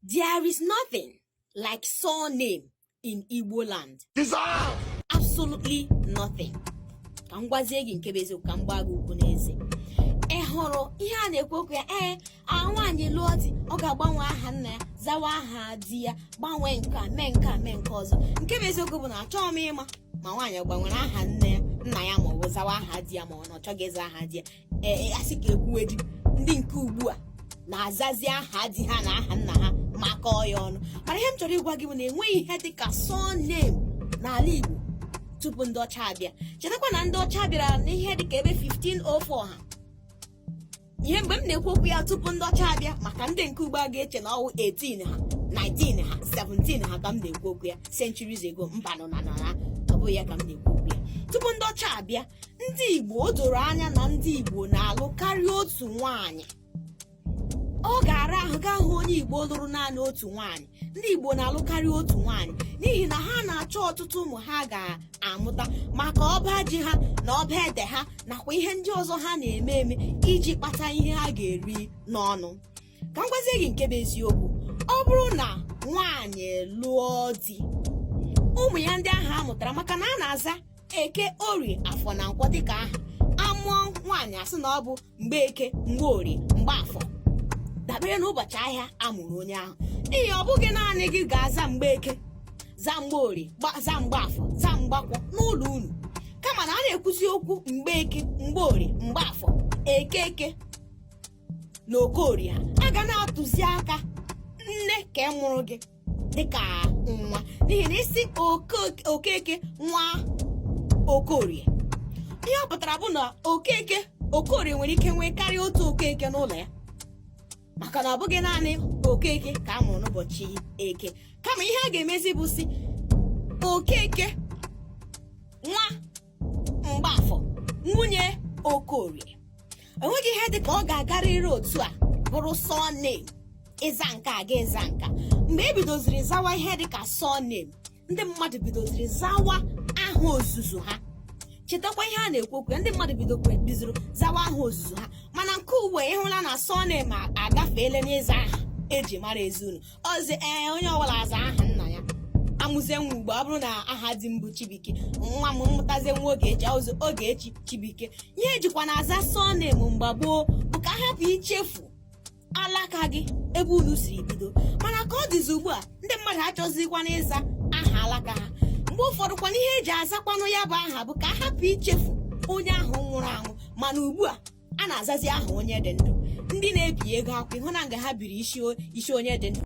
There is nothing like surname in Igbo land. Absolutely nothing. ka m gwazie gị nke bụ eziokwu ka m gbaa gị ụkwụ n'eze ị hụrụ ihe a na-ekwu okwu ya ee nwaanyị lụọ di ọ ga-agbanwe aha nna ya zawa aha di ya gbanwee nke a mee nke a mee nke ọzọ nke bụ eziokwu bụ na achọghị m ịma ma nwaanyị gbanwere aha nne ya nna ya ma ọ bụ zawa aha di ya ma ọ na ọ chọghị ịza aha di ya ee a sị ka e kwuwedi ndị nke ugbu a na-azazi aha di ha na aha nna ha makọọ ya ọnụ mana ihe m chọrọ ịgwa gị bụ na enweghị ihe dị ka surname n'ala Igbo tupu ndị ọcha abịa chetakwa na ndị ọcha bịara n'ihe dị ka ebe 1504 ha ihe mgbe m na-ekwu okwu ya tupu ndị ọcha abịa maka ndị nke ugbu a ga-eche na ọ wụ 18 ha 19 ha 17 ha ka m na-ekwu okwu ya centuries ago mbanụ na na ọ bụghị ya ka m na-ekwu okwu ya tupu ndị ọcha abịa ndị Igbo o doro anya na ndị Igbo na-alụ karịa otu nwaanyị ọ ga-ara ahụ gaa hụ onye Igbo lụrụ naanị otu nwaanyị ndị Igbo na-alụ karịa otu nwaanyị n'ihi na ha na-achọ ọtụtụ ụmụ ha ga-amụta maka ọba ji ha na ọba ede ha nakwa ihe ndị ọzọ ha na-eme eme iji kpata ihe ha ga-eri n'ọnụ ka m gwazie gị nke bụ eziokwu ọ bụrụ na nwaanyị lụọ di ụmụ ya ndị ahụ a mụtara maka na a na-aza eke orie afọ na nkwọ dịka aha a mụọ nwaanyị a sị na ọ bụ Mgbeke Mgborie Mgbafọ dabere n'ụbọchị ahịa a mụrụ onye ahụ n'ihi ọ bụghị naanị gị ga-aza Mgbeke za Mgborie za Mgbafọ za Mgbakwọ n'ụlọ unu kama na a na-ekwuzi okwu Mgbeke Mgborie Mgbafọ Okeke na okorie a ga na-atụzi aka nne nke mụrụ gị dịka nwa n'ihi na ị sị Oke- okeke nwa okorie ihe ọ pụtara bụ na okeke okorie nwere ike nwee karịa otu okeke n'ụlọ ya maka na ọ bụghị naanị okeke ka a mụrụ n'ụbọchị eke kama ihe a ga-emezi bụ sị okeke nwa mgbafọ nwunye okorie enweghị ihe dị ka ọ ga-agarịrị otu a bụrụ surname ịza nke a ga ịza nke a mgbe e bidoziri zawa ihe dị ka surname ndị mmadụ bidoziri zawa aha ozuzu ha chetakwa ihe a na-ekwu okwu ya ndị mmadụ bidokwa bidoziri zawa aha ozuzu ha mana nke ugbu a ị hụla na surname agafeela n'ịza aha e ji mara ezinụlọ ọzi ee onye ọbụla aza aha nna ya a mụzie nwa ugbu a ọ bụrụ na aha di m bụ Chibuike ngwa m mụtazie nwa Ogechi ọ zaa Ogechi Chibuike ihe e jikwanụ aza surname mgbe gboo bụ ka a hapụ ichefu alaka gị ebe unu siri bido mana ka ọ dịzi ugbu a ndị mmadụ achọzikwana ịza aha alaka ha mgbe ụfọdụ kwanụ ihe e ji azakwanụ ya bụ aha bụ ka a hapụ ichefu onye ahụ nwụrụ anwụ mana ugbu a a na-azazi aha onye dị ndụ ndị na-ebi ego akwụkwọ ị hụna nga ha biri isi onye dị ndụ